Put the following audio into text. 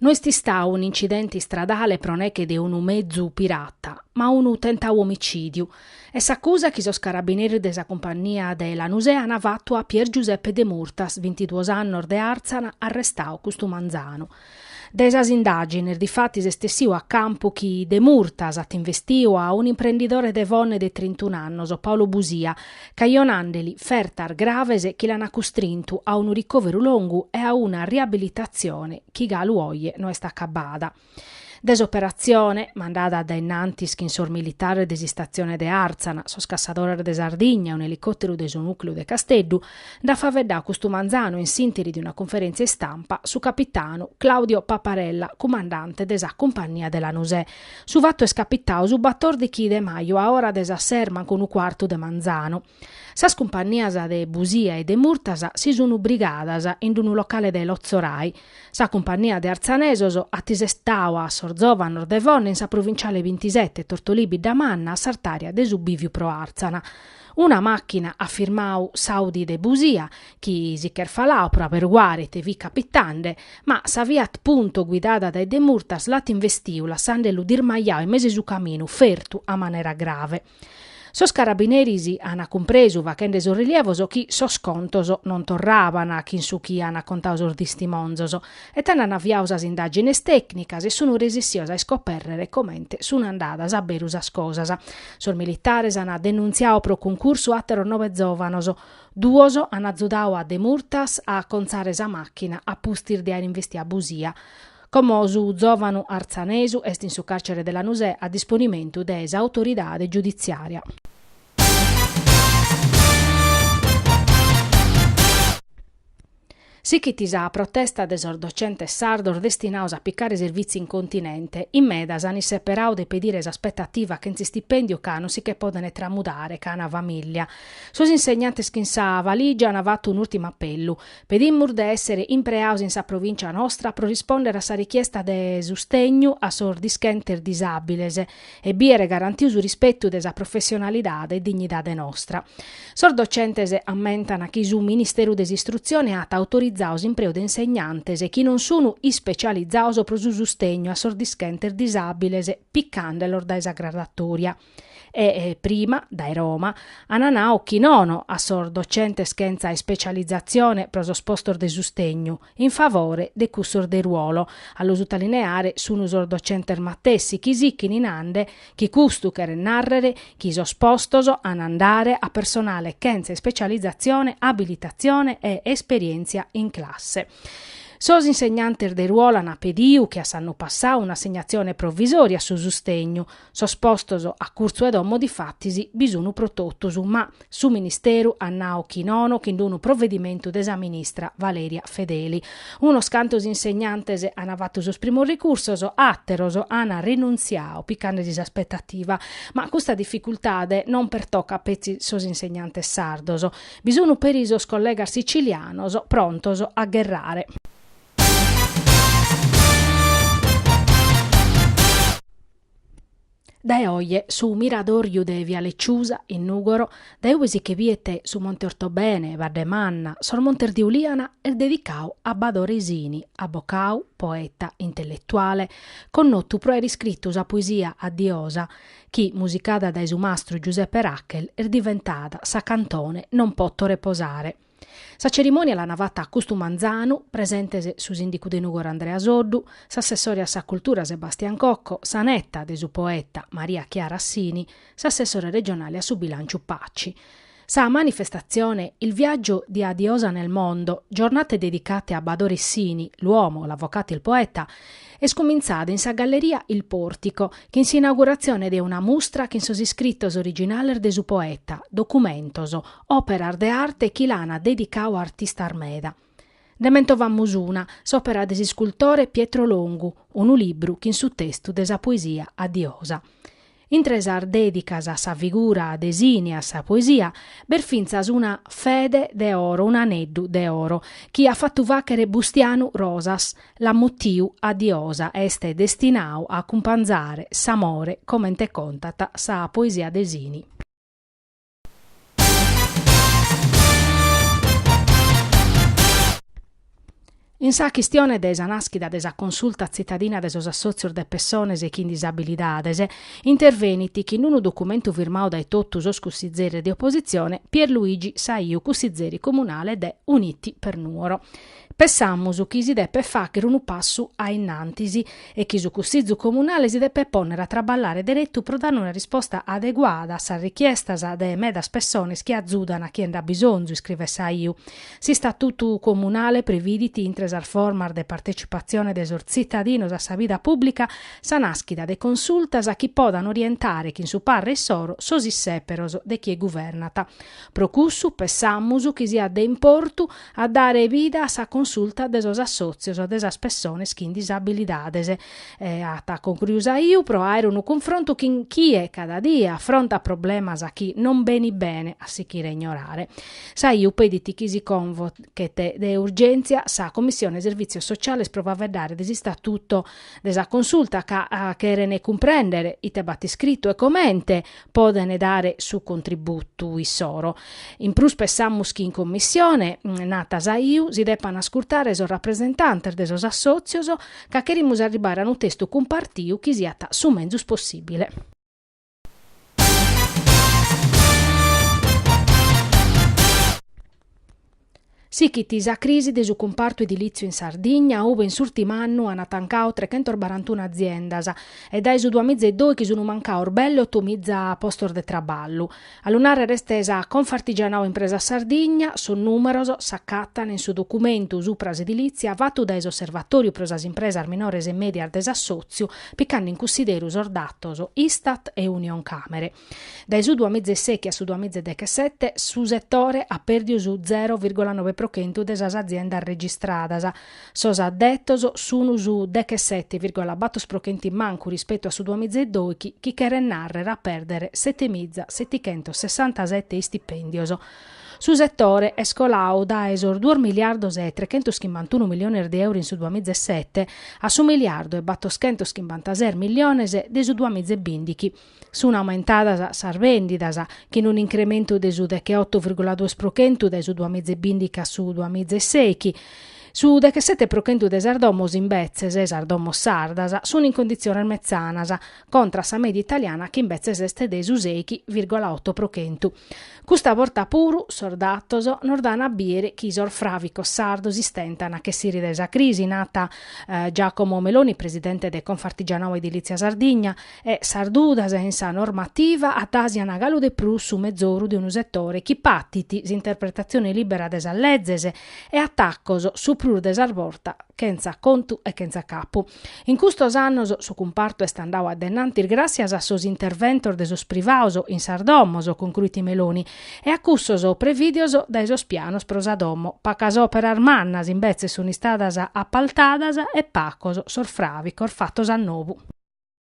No est istadu un'incidente istradale pro neche de unu mezu pirata, ma unu tentadu omicìdiu. Est s'acusa chi sos carabineris de sa cumpannia de Lanusè ant fatu a Pier Giuseppe Demurtas, bintiduos annos de Àrtzana, arrestadu custu manzanu. Dae sas indàgines, difatis est essidu a campu chi Demurtas at investiu a un'imprendidore de Fonne de trintun'annos, Paolo Busia, cajonandeli fertas graves chi l'ana custrintu a unu ricòveru longu e a una riabilitatzione chi galu oje no est acabada. De s'operatzione, mandada dae innantis chin sos militares de s'istatzione de Àrtzana, sos cassadores de Sardigna e un'elicòteru de su nùcleu de Casteddu, nd'at faeddadu custu manzanu in s'ìnteri de una cunferèntzia istampa su capitanu Claudio Paparella, cumandante de sa Cumpannia de Lanusè. Su fatu est capitau su batòrdichi de maju a ora de sas ses mancu unu cuartu de manzanu. Sas cumpannias de Busia e Demurtas si sunu brigadas in d'unu locale de Lotzorai. Sa cumpannia de artzanesos at isestau a sos zòvanos de Fonne in sa provinciale bintisete, Tortolì Biddamanna, a s'artària de su bìviu pro Àrtzana. Una màchina at firmau s'Audi de Busia, chi si ch'est faladu pro aberguare ite fit capitande, ma sa Fiat Punto guidada dae Demurtas l'at investiu lassandelu dirmajau in mesu 'e su caminu, fertu a manera grave. Sos carabineris ant cumpresu, fachende sos rilievos, chi sos contos non torraban chin su chi ant contau sos tistimonzos, E tando an aviau sas indàgines tècnicas e sun resissios a iscopèrrere comente sun andadas a beru sas cosas. Sos militares an denuntziau pro cuncursu àteros nobe zòvanos. Duos an azudau a Demurtas a acontzare sa màchina a pustis de àere investiu a Busia. Como su zòvanu artzanesu est in su càrcere de Lanusè a disponimentu de s'autoridade giuditziària. Sichit sa protesta de sos docentes sardos destinados a picare servìtziu in continente, in medas an isseperadu de pedire s'aspetativa chentz'istipèndiu ca non si che podent tramudare ca an famìllia. Sos insegnantes chin sa valìgia an fatu un'ùrtimu apellu, Pedimus de èssere impreados in sa provìncia nostra pro rispòndere a sa richiesta de sustegnu a sos dischentes disàbiles, e biere garantiu su rispetu de sa professionalidade e dignidade nostra. Sos docentes ammentan chi su Ministeru de s'Istrutzione at autorizau s'impreu de insegnantes chi non sunu ispecializados pro su sustegnu a sos dischentes disàbiles picandelos dae sa gradatòria e, prima, dae Roma, an nau chi nono a sos docentes chentza ispecializatzione pro sos postos de sustegnu. in favore de cussos de ruolo, a lu sutalineare sun sos docentes matessi chi sichini nande chi custu cheret narrere chi sos postos an andare a personale chentza ispecializatzione, abilitatzione e esperientzia in classe. Sos insegnantes de ruolo an pediu che a s'annu passau un'assegnatzione provvisoria a su sustegnu, Sos postos a curtzu 'e domo difatis bi sun pro totus, ma su Ministeru at nau chi nono chin unu provedimentu de sa ministra Valeria Fedeli. Unos cantos insegnantes an fatu sos primos ricursos, àteros an rinuntziau picande·si s'aspetativa. Ma custa dificultade non pertocat petzi sos insegnantes sardos. Bi sun peri sos collegas sicilianos prontos a gherrare. Dae oje su Miradòriu de Via Ciusa, in Nùgoro, dae ue si che biet su Monte Ortobene, Baddemanna, sos Montes de Uliana, est dedicau a Badore Sini, abocau, poeta, intelletuale, connotu pro aer iscritu sa poesia A Diosa chi, musicada dae su mastru Giuseppe Rachel, est diventada sa cantone Non poto reposare. Sa cerimònia l'ana fata custu manzanu, presentes su sìndicu de Nùgoro Andrea Soddu, s'assessore a sa cultura Sebastian Cocco, sa neta de su poeta Maria Chiara Sini, s'assessore regionale a su bilànciu Paci. Sa manifestatzione Il viaggio di A Diosa nel mondo, giornate dedicate a Badore Sini, l'uomo, l'avvocato, il poeta, est cumintzada in sa galleria Il Portico, chin s'inauguratzione de una mustra chin sos iscritos originales de su poeta, documentos, Òperas de arte chi l'ana dedicau artistas meda. Nde mentovamus una, s'òpera de s'iscultore Pietro Longu, unu libru chin su testu de sa poesia A Diosa. Intre sas dedicas a sa figura de Sini e a sa poesia, b'est fintzas una fede de oro, unu aneddu de oro, chi at fatu fàghere Bustianu Rosas, l'at mutiu A Diosa, est destinau a acumpanzare s'amore comente contat sa poesia de Sini. In sa chistione de sa nàschida de sa Consulta tzitadina de sos assòtzios de pessones chin disabilidades, intervenit chin unu documentu firmadu dae totu sos cussizeres de opositzione, Pierluigi Saiu, cussizeri comunale de Uniti per Nuoro. Pensamus chi si depet fàghere unu passu a innantis e chi su Cussizu Comunale si depet pònnere a traballare deretu pro dare una risposta adeguada a sas richiestas de medas pessones chi azudan a chie nd'at bisonzu, iscrivet Saiu. S'Istatutu Comunale previdit, intre sas formas de partecipatzione de sos tzitadinos a sa vida pùblica, sa nàschida de consultas chi podan orientare chin su parre issoro sos issèperos de chie guvernat. Pro cussu, pensamus chi siat de importu, a dare bida a sa consulta de sos assòtzios de sas pessones chin disabilidades, at concruiu Saiu, pro àere unu cunfrontu chin chie cada die afrontat problemas chi non benit bene a sichire ignorare. Saiu pedit chi si convochet de urgèntzia sa Commissione Servìtzios Sotziales pro faveddare de s'istatuto de sa consulta ca cheren cumprèndere ite b'at iscritu e comente podent dare su contributu issoro. In prus pessamus chi in commissione, nat Saiu, si deppant ascurtare sos rapresentantes de sos assòtzios ca cherimus arribare a unu testu cumpartiu chi siat su menzus possìbile. Sichit sa crisi de su cumpartu edilìtziu in Sardigna, ube in s'ùrtimu annu ant tancau trechentos barantuna aziendas e dae su duamiza e doichi sunt mancaos belle oto miza postos de traballu. A lu nàrrere est sa Confartigianau Impresas Sardigna, sos nùmeros s'acatan in su documentu supra s'edilìtzia fatu dae s'Osservatòriu pro sas Impresas Minores e Mèdias de s'Assòtziu, picande in cunsideru sos datos Istat e Unioncamere. Dae su duamizeseichi a su duamizedechesete su setore at pèrdiu su zero virgola nobe pro chentu de sas aziendas registradas, sos addetos sun su dechesete virgola battor pro chentu in mancu rispetu a su duamizedoichi, chi cheret nàrrer a pèrdere setemiza setichentos sessantasete istipèndios. Su setore est colau dae sos duos miliardos e trechentos chimbantunu miliones de euro in su duamizesete a su miliardu e battoschentos chimbantases miliones de su duamizebìndichi, Sunt aumentadas sas vèndidas, chin un'incrementu de su decheoto virgula dues pro chentu dae su duamiza e bìndichi a su duamiza e seichi. Su dechesete pro chentu de sas domos, imbetzes, sas domos sardas, sunt in conditziones metzanas, contra a sa mèdia italiana chi imbetzes est de su seichi virgola oto pro chentu. Custa borta puru sos datos nos dan a biere chi sos fràvicos sardos istentan a ch'essire dae sa crisi, nat Giacomo Meloni, presidente de Confartigianau Edilizia Sardigna, e sas dudas in sa normativa atasian galu de prus su mezoru de unu setore chi patit s'interpretatzione lìbera de sas lezes e atacos su prus de sas bortas chentza contu e chentza capu. In custos annos su cumpartu est andau addennantis gràtzias a sos interventos de sos privaos in sas domos, concruit Meloni, e a cussos prevìdios dae sos pianos pro sa domo. Pacas òperas mannas, imbetzes, sunt istadas apaltadas e pacos sos fràvicos fatos a nobu.